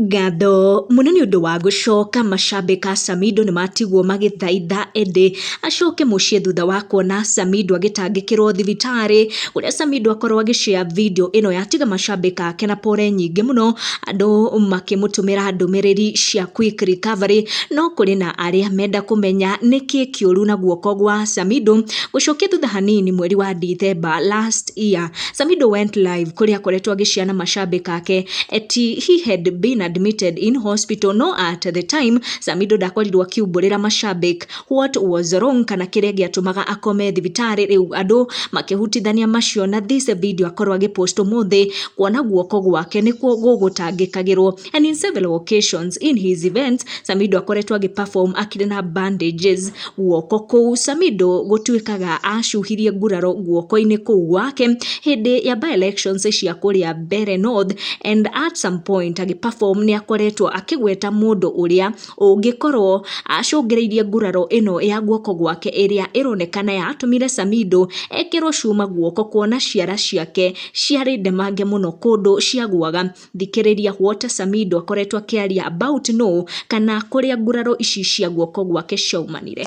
Ngatho mũno nĩ ũndũ wa gũcoka, macambĩ ka Samindo nĩ matigwo magĩthaitha ĩndĩ acoke mũciĩ thutha wa kuona Samindo agĩtangĩkĩrwo thibitarĩ, kũrĩa Samindo akorwo agĩ share video ĩno yatiga macambĩ make na pore nyingĩ mũno, andũ makĩmũtũmĩra ndũmĩrĩri cia quick recovery, no kũrĩ na arĩa menda kũmenya nĩkĩ kĩũru na guoko gwa Samindo, gũcokia thutha hanini mweri wa Ndithemba last year. Samido went live kũrĩa akoretwo agĩciana mashabik ake at he had been admitted in hospital no at the time Samido ndakorirwo akiumbũrĩra mashabik what was wrong kana kĩrĩa gĩatũmaga akome thibitarĩ rĩu andũ makĩhutithania macio na this video akorwo agĩpost ũmũthĩ kuona guoko gwake nĩkuo gũgũtangĩkagĩrwo And in several occasions in his events, Samido akoretwo agĩperform akĩrĩ na bandages guoko kũu. Samido gũtuĩkaga acuhirie nguraro guoko-inĩ kũu gwake hĩndĩ ya by-elections cia kũrĩa Mbere North and at some point agĩperform nĩ akoretwo akĩgweta mũndũ ũrĩa ũngĩkorwo acũngĩrĩirie nguraro ĩno ya guoko gwake ĩrĩa ĩronekana yatũmire Samido ekĩrwo cuma guoko kuona ciara ciake ciarĩ ndemange mũno kũndũ ciagwaga. thikĩrĩria what Samido akoretwo akĩaria about nũ kana kũrĩa nguraro ici cia guoko gwake ciaumanire.